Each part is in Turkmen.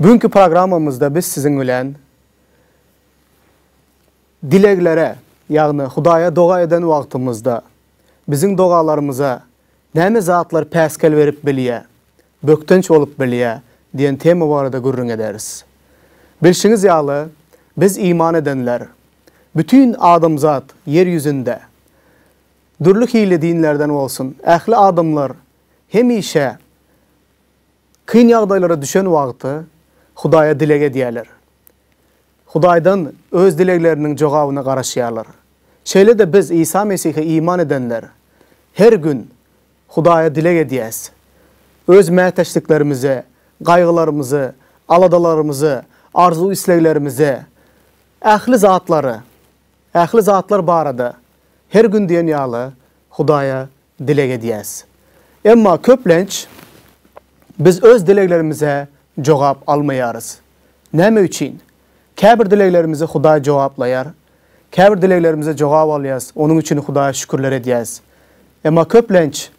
Bu günki programmamyzda biz siziň bilen dileglere, ýagny Hudaýa doga eden wagtymyzda biziň dogalarymyza näme zatlar päsgel berip bilýär, bökdenç bolup bilýär diýen tema barada gürrüň ederis. Bilşiňiz ýaly, biz iman edenler, bütin adamzat ýer ýüzünde, dürli hili dinlerden bolsun, ähli adamlar hemişe, Kyn ýagdaýlara düşen wagty Hudaýa dileg edýärler. Hudaýdan öz dilegleriniň jogabyna garaşýarlar. Şeýle-de biz Isa Mesihe iman edenler her gün Hudaýa dileg edýäs. Öz mätäçliklerimizi, gaýgylarymyzy, aladalarymyzy, arzuw-isleglerimizi, ähli zatlary, ähli zatlar barada her gün diýen ýaly Hudaýa dileg edýäs. Emma köplenç biz öz dileglerimize jogap almaýarys. Näme üçin? Käbir dileglerimizi Hudaý jogaplaýar. Käbir dileglerimize jogap alýas, onuň üçin Hudaýa şükürler edýäs. Emma köplenç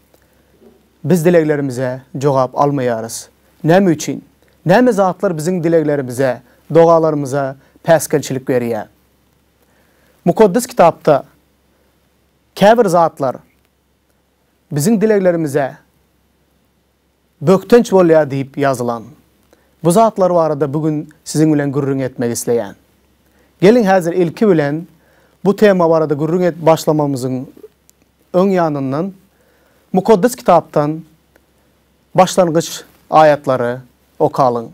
biz dileglerimize jogap almaýarys. Näme üçin? Näme zatlar biziň dileglerimize, dogalarymyza päsgelçilik berýär? Mukaddes Kitapda Käbir zatlar biziň dileglerimize bökdenç bolýar diýip ýazylan. Bu zatlar barada bu gün siziň bilen gürrüň etmek isleýän. Geliň häzir ilki bilen bu tema barada gürrüň edip başlamamyzyň öň ýanyndan Mukaddes Kitapdan başlangyç aýatlary okalyň.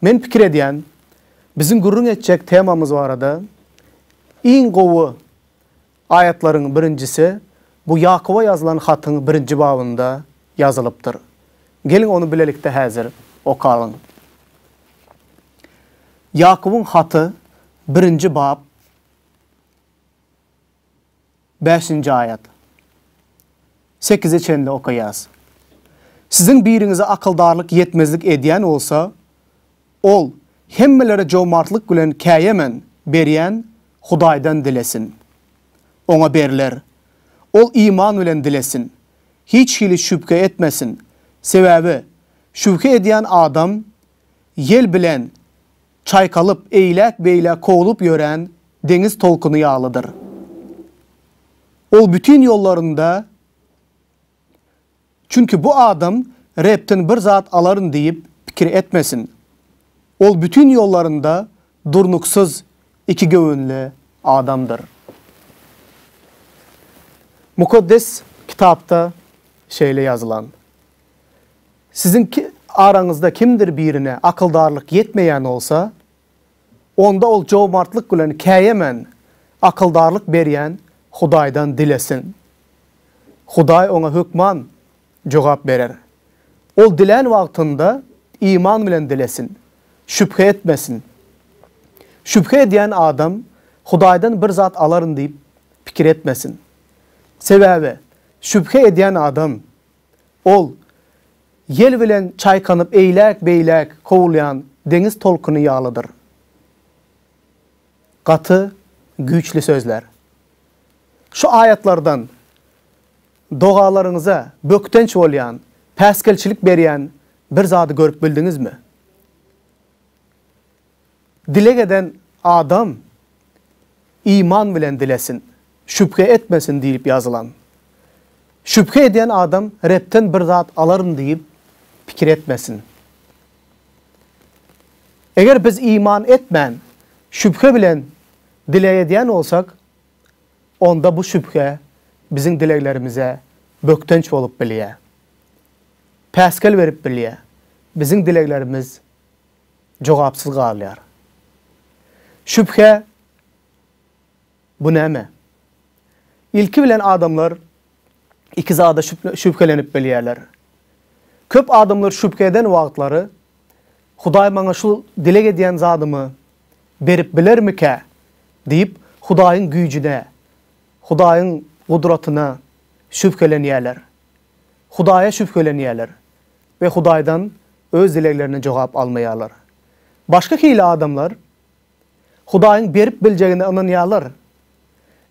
Men pikir edýän, biziň gürrüň etjek temamyz barada iň gowy Aýatlaryň birinjisi bu Ýakuba ýazylan hatyň birinji babynda ýazylypdyr. Geliň ony bilelikde häzir okalyň. Ýakubyň haty birinji bap bäşinji aýat. Sekize çenli okaýas. Siziň biriňize akyldarlyk ýetmezlik edýän bolsa, Ol, Hemmelere jomartlyk bilen käýemen, berýän Hudaýdan dilesin. Oňa berler. Ol iman bilen dilesin. Hiç hili şübhe etmesin. Sebäbi şübhe edýän adam ýel bilen çaýkalyp, eýläk-beýläk kowlup ýören deňiz tolkuny ýalydyr. Ol bütin ýollarynda. Çünki bu adam Rebden bir zat alaryn diýip pikir etmesin. Ol bütin ýollarynda durnuksyz ikigöwünli adamdyr. Mukaddes Kitapda şeýle ýazylan, Siziň araňyzda kimdir birine akyldarlyk ýetmeýän bolsa, Onda ol jomartlyk bilen käýemän, akyldarlyk berýän Hudaýdan dilesin. Hudaý oňa hökman jogap berer. Ol dilän wagtynda iman bilen dilesin, şübhe etmesin. Şübhe edýän adam Hudaýdan bir zat alaryn diýip pikir etmesin. Sebäbi şübhe edýän adam Ol, ýel bilen çaýkanyp eýläk-beýläk kowulýan deňiz tolkuny ýalydyr. Gaty güýçli sözler. Şu aýatlardan dogalaryňyza bökdenç bolýan, päsgelçilik berýän bir zady görüp bildiňizmi? Dileg eden adam iman bilen dilesin, şübhe etmesin diýlip ýazylan. Şübhe edýän adam Rebden bir zat alaryn diýip pikir etmesin. Eger biz iman etmän, şübhe bilen dileg edýän bolsak, onda bu şübhe biziň dileglerimize bökdenç bolup bilýär. Päsgel berip bilýär. Biziň dileglerimiz jogapsyz galýar. Şübhe, bu näme? Ilki bilen adamlar iki zada şübhelenip bilýärler. Köp adamlar şübhe eden wagtlary Hudaý maňa şu dileg edýän zadymy berip bilermikä? diýip, Hudaýyň güýjüne, Hudaýyň gudratyna şübhelenýärler. Hudaýa şübhelenýärler we Hudaýdan öz dileglerine jogap almaýarlar. Başga hili adamlar Hudaýyň berip biljegine ynanýarlar,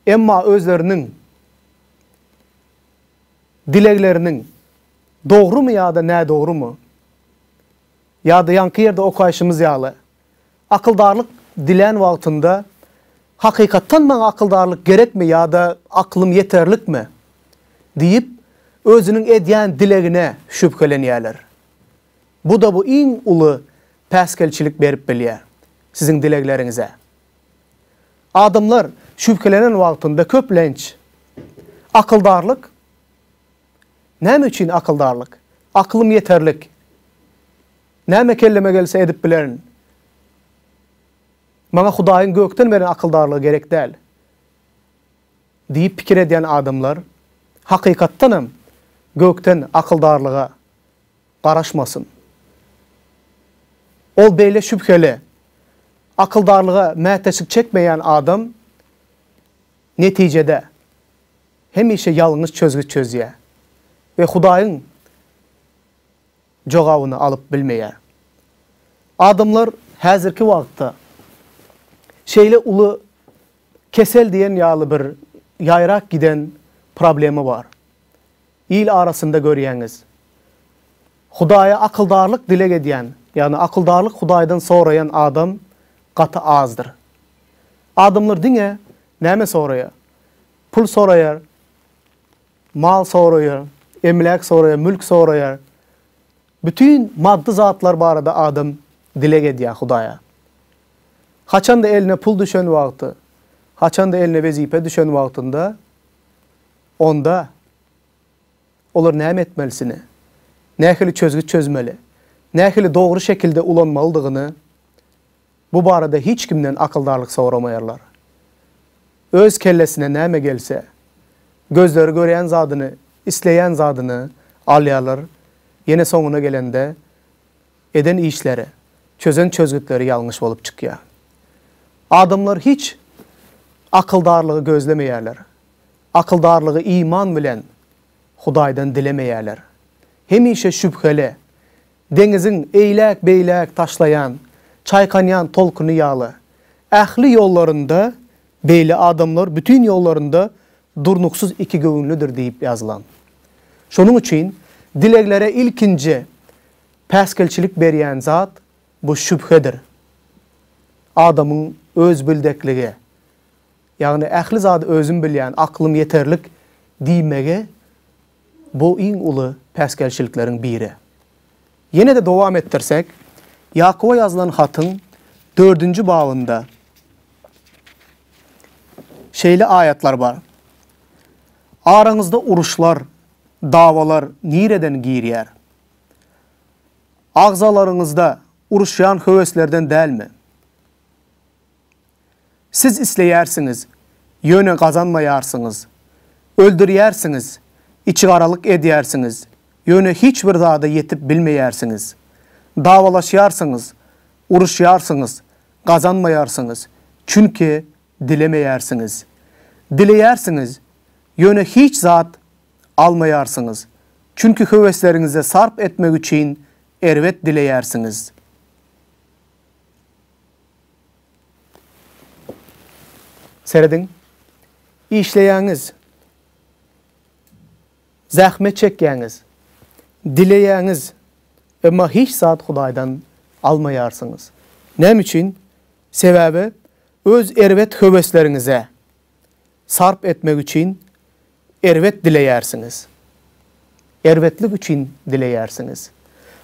emma özleriniň dilegleriniň dogrumy ýa-da nädogrumy, ýa-da ýaňky ýerde okaýşymyz ýaly, Akyldarlyk dilän wagtynda, Hakykatdan maňa akyldarlyk gerekmi ýa-da aklym ýeterlikmi? diýip, özüniň edýän dilegine şübhelenýärler. Bu-da bu iň uly päsgelçilik berip bilýär siziň dilegleriňize. Adamlar şübhelenen wagtynda köplenç, Akyldarlyk? Näme üçin akyldarlyk? Aklym ýeterlik. Näme kelleme gelse edip bilerin. Maňa Hudaýyň gökden beren akyldarlygy gerek däl diýip pikir edýän adamlar, hakykatdanam, gökden akyldarlyga garaşmasyn. Ol beýle şübheli, akyldarlyga mätäçlik çekmeýän adam netijede hemişe ýalňyş çözgüt çözýär we Hudaýyň jogabyny alyp bilmeýär. Adamlar häzirki wagtda şeýle uly kesel diýen ýaly bir ýaýrap giden problema bar. Il arasynda görýäňiz. Hudaýa akyldarlyk dileg edýän, ýagny akyldarlyk Hudaýdan soraýan adam gaty azdyr. Adamlar diňe näme soraýar? Pul soraýar. Mal soraýar, emläk soraýar, mülk soraýar. Bütin maddy zatlar barada adam dileg edýär Hudaýa. Haçan-da eline pul düşen wagty, haçan-da eline wezipe düşen wagtynda, onda olar näme etmelisini, nähili çözgüt çözmeli, nähili dogry şekilde ulanmalydygyny Bu barada hiç kimden akyldarlyk soramaýarlar. Öz kellesine näme gelse, gözleri görýän zadyny, isleýän zadyny alýarlar, ýene soňuna gelende eden işleri, çözen çözgütleri ýalňyş bolup çykýar. Adamlar hiç akyldarlygy gözlemeýärler. Akyldarlygy iman bilen Hudaýdan dilemeýärler. Hemişe şübheli, Deňiziň eýläk-beýläk taşlaýan, çaýkanýan tolkuny ýaly. Ähli ýollarynda beýle adamlar bütin ýollarynda durnuksyz ikigöwünlidir diýip ýazylan. Şonuň üçin dileglere ilkinji päsgelçilik berýän zat bu şübhedir. Adamyň özbildekligi, ýagny ähli zady özüm bilýän, aklym ýeterlik diýmegi Bu iň uly päsgelçilikleriň biri. Ýene-de dowam etdirsek, Ýakuba ýazylan hatyň dördünji babynda şeýle aýatlar bar, Araňyzda uruşlar, dawalar nireden girýär? Agzalaryňyzda uruşýan höweslerden dälmi? Siz isleýärsiňiz, ýöne gazanmaýarsyňyz. Öldürýärsiňiz, içigaralyk edýärsiňiz, ýöne hiç bir zada ýetip bilmeýärsiňiz. Dawalaşýarsyňyz, uruşýarsyňyz, gazanmaýarsyňyz, çünki dilemeýärsiňiz. Dileýärsiňiz, ýöne hiç zat almaýarsyňyz, çünki höwesleriňizi sarp etmek üçin erbet dileýärsiňiz. Serediň, işleýäňiz, zähmet çekýäňiz, dileýäňiz, emma hiç zat Hudaýdan almaýarsyňyz. Näme üçin? Sebäbi öz erbet höwesleriňize, Sarp etmek üçin erbet dileýärsiňiz. Erbetlik üçin dileýärsiňiz.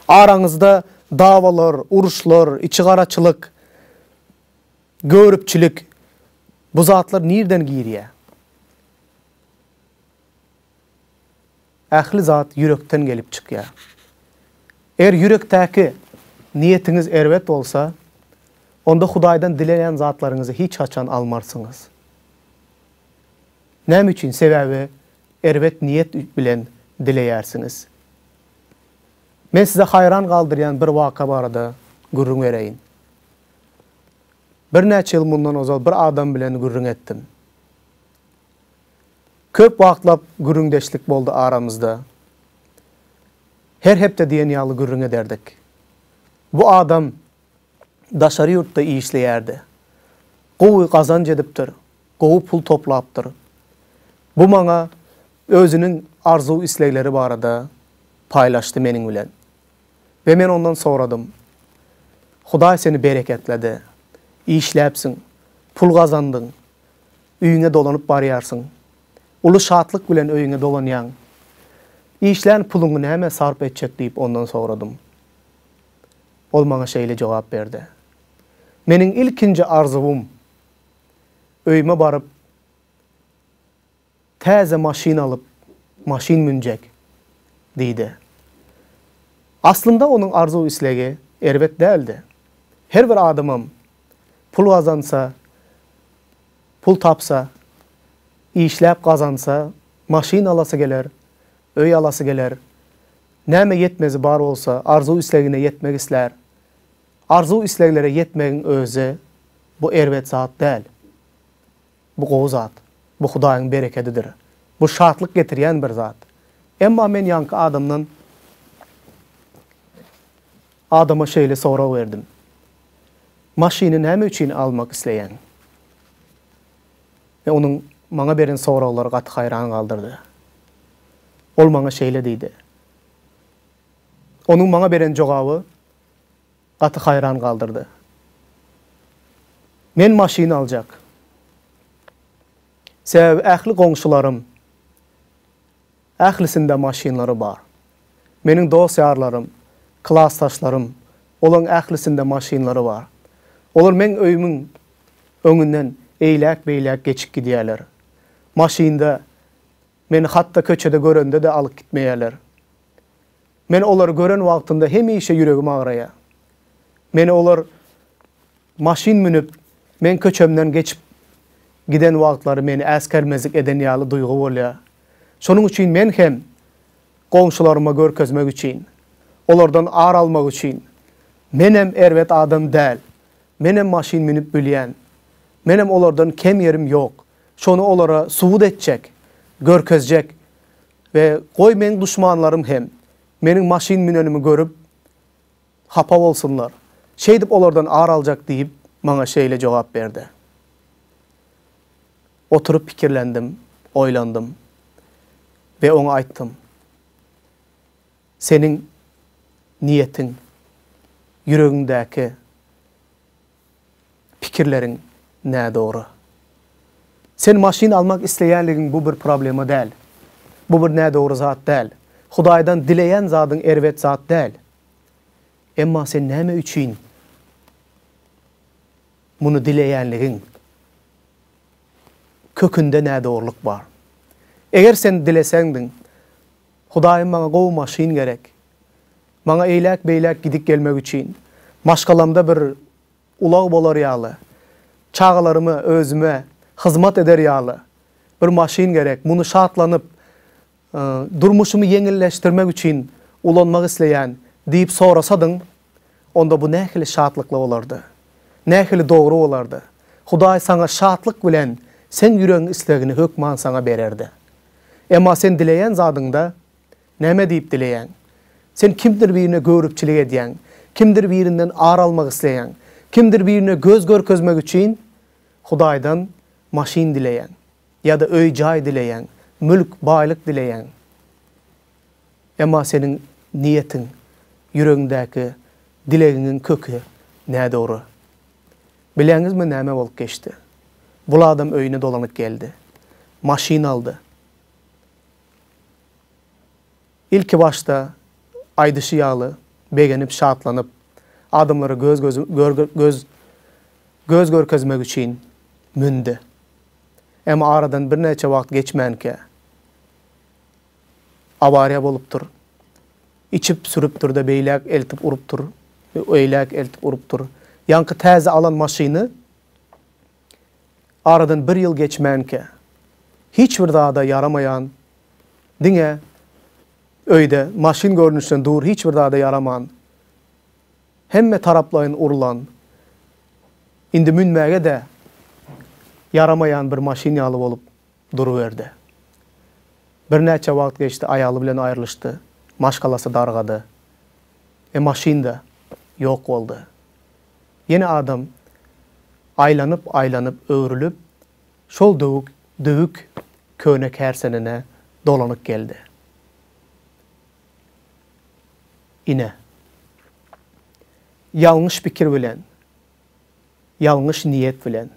Araňyzda dawalar, uruşlar, içigaraçylyk, göripçilik, bu zatlar nirden girýär? Ähli zat ýürekden gelip çykýar. Eger ýürekdäki niýetiňiz erbet bolsa, onda Hudaýdan dileýän zatlaryňyzy hiç haçan almarsyňyz. Näme üçin? Sebäbi erbet niýet bilen dileýärsiňiz. Men size haýran galdyrýan bir waka barada gürrüň bereýin. Birnäçe ýyl mundan ozal bir adam bilen gürrüň etdim. Köp wagtlap gürrüňdeşlik boldy aramyzda. Her hepde diýen ýaly gürrüň ederdik. Bu adam daşary ýurtda işleýärdi. Gowy gazanç edipdir, gowy pul toplapdyr. Bu maňa özüniň arzuw-islegleri barada paýlaşdy meniň bilen. We men ondan soradym, Hudaý seni bereketledi. Işläpsiň, pul gazandyň, öýüňe dolanyp barýarsyň. Uly şatlyk bilen öýüňe dolanýaň. Işlän puluňy nämä sarp etjek diýip ondan soradym. Ol maňa şeýle jogap berdi. Meniň ilkinji arzuwym, öýüme baryp, Täze maşyn alyp, maşyn münjek, diýdi. Aslynda onuň arzuw-islegi erbet däldi. Her bir adamam pul gazansa, pul tapsa, işläp gazansa, maşyn alasy geler, öý alasy geler. Näme ýetmezi bar bolsa, arzuw-islegine ýetmek islär. Arzuw-isleglere ýetmegiň özi, bu erbet zat däl. Bu gowy zat. Bu Hudaýyň berekedidir. Bu şatlyk getirýän bir zat. Emma men ýaňky adamdan adama şeýle sorag berdim, Maşyny näme üçin almak isleýäň? We onuň maňa beren soraglary gaty haýran galdyrdy. Ol maňa şeýle diýdi. Onuň maňa beren jogaby Gaty haýran galdyrdy. Men maşyn aljak. Sebäbi ähli goňşularym ählisinde maşynlary bar. Meniň dost-ýarlarym, klasdaşlarym olaň ählisinde maşynlary bar. Olar meň öýümiň öňünden eýläk-beýläk geçip gidýärler. Maşynda meni hatda köçede görende-de alyp gitmeýärler. Men olary gören wagtymda hemişe ýüregim agraýar. Meni olar maşyn münüp, meň köçemden geçip giden wagtlary meni äsgermezlik eden ýaly duýgy bolýar. Şonuň üçin men hem goňşularyma görkezmek üçin, olardan ar almak üçin, Menem erbet adam däl, menem maşyn münüp bilýän, menem olardan kem ýerim ýok, şony olara subut etjek, görkezjek We goý meň duşmanlarym hem meniň maşyn münenimi görüp, hapa bolsunlar. Şeýdip olardan ar aljak diýip, maňa şeýle jogap berdi. Oturyp pikirlendim, oýlandym. We oňa aýtdym, Seniň niýetiň, ýüregiňdäki pikirleriň nädogry. Sen maşyn almak isleýänligiň bu bir problema däl. Bu bir nädogry zat däl. Hudaýdan dileýän zadyň erbet zat däl. Emma sen näme üçin muny dileýänligiň kökünde nädogrulyk bar. Eger sen dileseňdiň, Hudaýym maňa gowy maşyn gerek. Maňa eýläk-beýläk gidip gelmek üçin, maşgalamda bir ulag bolar ýaly, çagalaryma, özüme hyzmat eder ýaly bir maşyn gerek. Muny şatlanyp, durmuşymy ýeňilleşdirmek üçin ulanmak isleýän diýip sorasadyň, onda bu nähili şatlykly bolardy? Nähili dogry bolardy? Hudaý saňa şatlyk bilen seň ýüregiň islegini hökman saňa bererdi. Emma sen dileýän zadyňda Näme diýip dileýäň? Sen kimdir birine göwrüpçilik edýäň, kimdir birinden ar almak isleýäň, kimdir birine göz görkezmek üçin Hudaýdan maşyn dileýäň, ýa-da öý-jaý dileýäň, mülk, baýlyk dileýäň. Emma seniň niýetiň, ýüregiňdäki dilegiňiň köki nädogry. Bilýäňizmi näme bolup geçdi? Bul adam öýüne dolanyp geldi. Maşyn aldy. Ilki başda aýdyşy ýaly begenip şatlanyp, adamlara göz göz göz görkezmek üçin mündi. Emma aradan birnäçe wagt geçmänkä awariýa bolupdyr. Içip sürüpdir-de beýläk eltip urupdyr, öýläk eltip urupdyr. Ýaňky täze alan maşyny Aradan bir ýyl geçmänkä, hiç bir zada ýaramaýan, diňe öýde maşyn görnüşden dur hiç bir zada ýaraman, hemme taraplaýyn urlan, indi münmäge-de ýaramaýan bir maşyn ýaly bolup duruberdi. Birnäçe wagt geçdi, aýaly bilen aýrylyşdy, maşgalasy dargady. E maşyn-da ýok boldy. Ýene adam aýlanyp, aýlanyp, öwrülip, şol döwük, döwük köne kärsenene dolanyp geldi. Ine, ýalňyş pikir bilen, ýalňyş niýet bilen,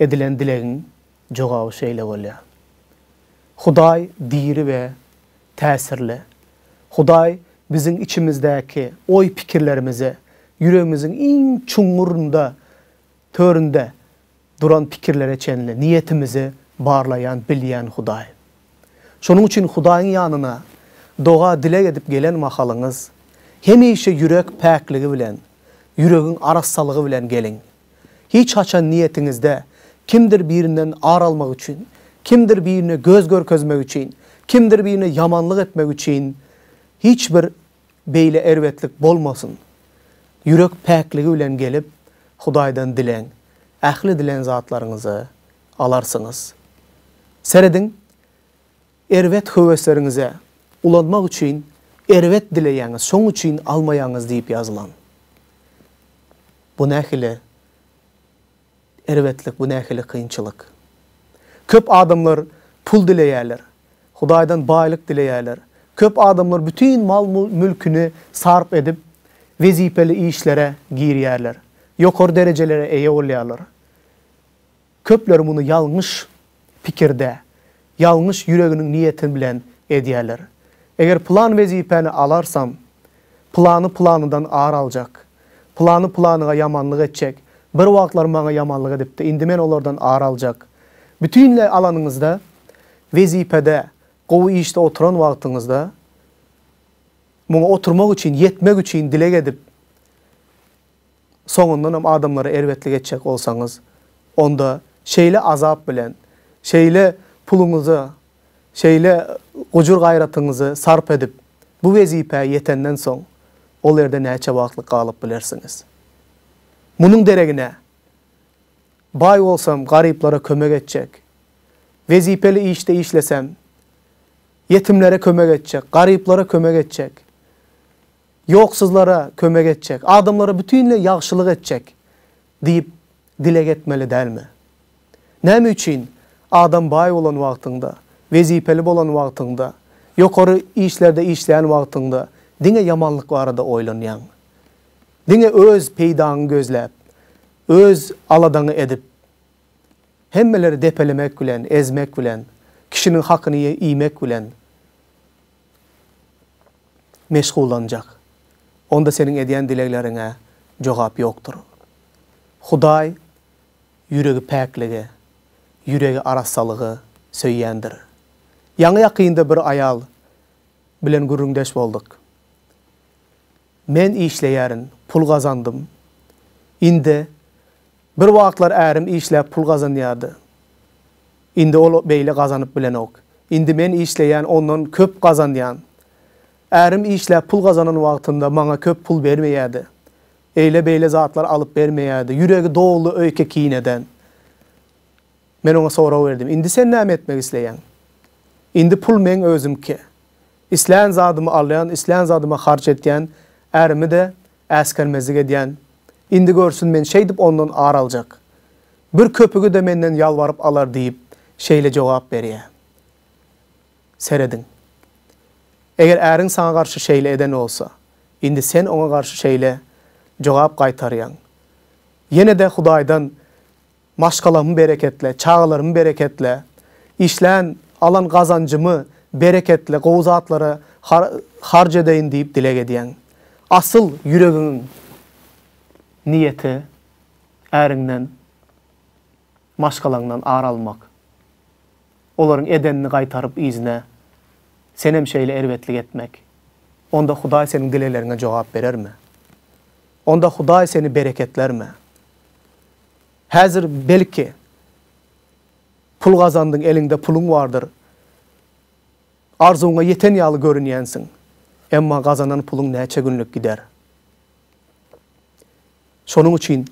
Edilen dilegiň jogaby şeýle bolýar. Hudaý diri we täsirli. Hudaý biziň içimizdäki oý-pikirlerimize, ýüregimiziň iň çuňňurynda, töründe duran pikirlere çenli niýetimizi barlaýan, bilýän Hudaý. Şonuň üçin Hudaýyň ýanyna doga-dileg edip gelen mahalyňyz, hemişe ýürek päkligi bilen, ýüregiň arassalygy bilen geliň. Hiç haçan niýetiňizde kimdir birinden ar almak üçin, kimdir birine göz görkezmek üçin, kimdir birine ýamanlyk etmek üçin hiç bir beýle erbetlik bolmasyn. Ýürek päkligi bilen gelip, Hudaýdan dileň. Ähli dilen zatlaryňyzy alarsyňyz. Serediň, Erbet höwesleriňize ulanmak üçin erbet dileýäňiz, şoň üçin almaýaňyz diýip ýazylan. Bu nähili erbetlik, bu nähili kynçylyk. Köp adamlar pul dileýärler, Hudaýdan baýlyk dileýärler. Köp adamlar bütin mal-mülküni sarp edip, wezipeli işlere girýärler, ýokary derejelere eýe bolýarlar. Köpler muny ýalňyş pikirde, ýalňyş ýüreginiň niýeti bilen edýärler. Eger pylan wezipäni alarsam, pylany pylanydan ar aljak, pylany pylanyga ýamanlyk etjek, bir wagtlar maňa ýamanlyk edipdi, indi men olardan ar aljak. Bütinleý alanyňyzda, wezipede, gowy işde oturan wagtyňyzda, muňa oturmak üçin, ýetmek üçin dileg edip, soňundan hem adamlara erbetlik etjek bolsaňyz, onda şeýle azap bilen, şeýle puluňyzy, şeýle gujur-gaýratyňyzy sarp edip, bu wezipä ýetenden soň, ol erde näçe wagtlyk galyp bilersiňiz? Munuň deregine, baý bolsam, garyplara kömek etjek, wezipeli işde işlesem, ýetimlere kömek etjek, garyplara kömek etjek. Ýoksuzlara kömek etjek, adamlara bütinleý ýagşylyk etjek diýip dileg etmeli dälmi? Näme üçin adam baý bolan wagtyňda, wezipeli bolan wagtyňda, ýokary işlerde işleýän wagtyňda diňe ýamanlyk barada oýlanýaň? Diňe öz peýdaňy gözläp, öz aladaňy edip, hemmeleri depelemek bilen, ezmek bilen, kişiniň hakyny iýmek bilen, meşgullanjak. Onda seniň edýän dilegleriňe jogap ýokdur. Hudaý ýüregi päkligi, ýüregi arassalygy söýýändir. Ýaňy-ýakynda bir aýal bilen gürrüňdeş bolduk. Men işleýärin, pul gazandym. Indi Bir wagtlar ärim işläp pul gazanýardy. Indi ol beýle gazanyp bilenok. Indi men işleýän ondan köp gazanýan. Ärim işläp pul gazanan wagtynda maňa köp pul bermeýärdi. Eýle beýle zatlar alyp bermeýärdi. Ýüregi doly öýke kineden. Men oňa sorag berdim. Indi sen näme etmek isleýäň? Indi pul meň özümki. Islän zadymy alýan, islän zadyma harç etýän, ärimi-de Äsgermezlik edýän. Indi görsün men şeýdip ondan ar aljak. Bir köpügi-de menden ýalbaryp alar diýip, şeýle jogap berýä. Serediň. Eger äriň saňa garşy şeýle eden bolsa, indi sen oňa garşy şeýle jogap gaýtarýaň. Ýene-de Hudaýdan Maşgalamy bereketle, çagalarymy bereketle, işlän, alan gazanjymy bereketle, gowy zatlara har harç edeýin diýip dileg edýäň. Asyl ýüregiň niýeti äriňden, maşgalaňdan ar almak. Olaryň edenini gaýtaryp yzyna senem şeýle erbetlik etmek. Onda Hudaý seniň dilegleriňe jogap berermi? Onda Hudaý seni bereketlermi? Häzir belki pul gazandyň, eliňde puluň bardyr. Arzuwyňa ýeten ýaly görünýänsiň. Emma gazanan puluň näçe günlük gider. Şonuň üçin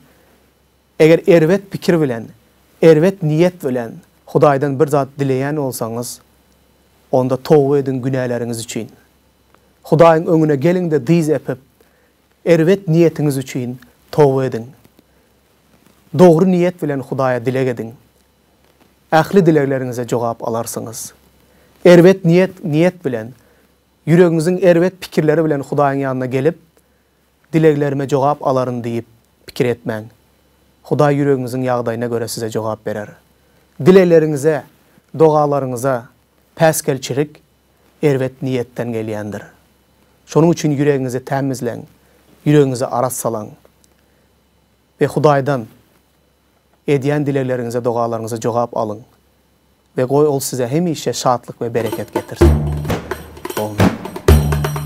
eger erbet pikir bilen, erbet niýet bilen Hudaýdan bir zat dileýän bolsaňyz, onda toba ediň günäleriňiz üçin. Hudaýyň öňüne geliň-de dyz epip, Erbet niýetiňiz üçin toba ediň. Dogry niýet bilen Hudaýa dileg ediň. Ähli dilegleriňize jogap alarsyňyz. Erbet niýet niýet bilen, ýüregiňiziň erbet pikirleri bilen Hudaýyň ýanyna gelip, Dileglerime jogap alaryn diýip pikir etmäň. Hudaý ýüregiňiziň ýagdaýyna görä size jogap berer. Dilegleriňize, dogalaryňyza päsgelçilik erbet niýetden gelýändir. Şonuň üçin ýüregiňizi tämizleň, ýüregiňizi arassalaň we Hudaýdan edýän dilegleriňize, dogalaryňyza jogap alyň we goý Ol size hemişe şatlyk we bereket getirsin. Amin.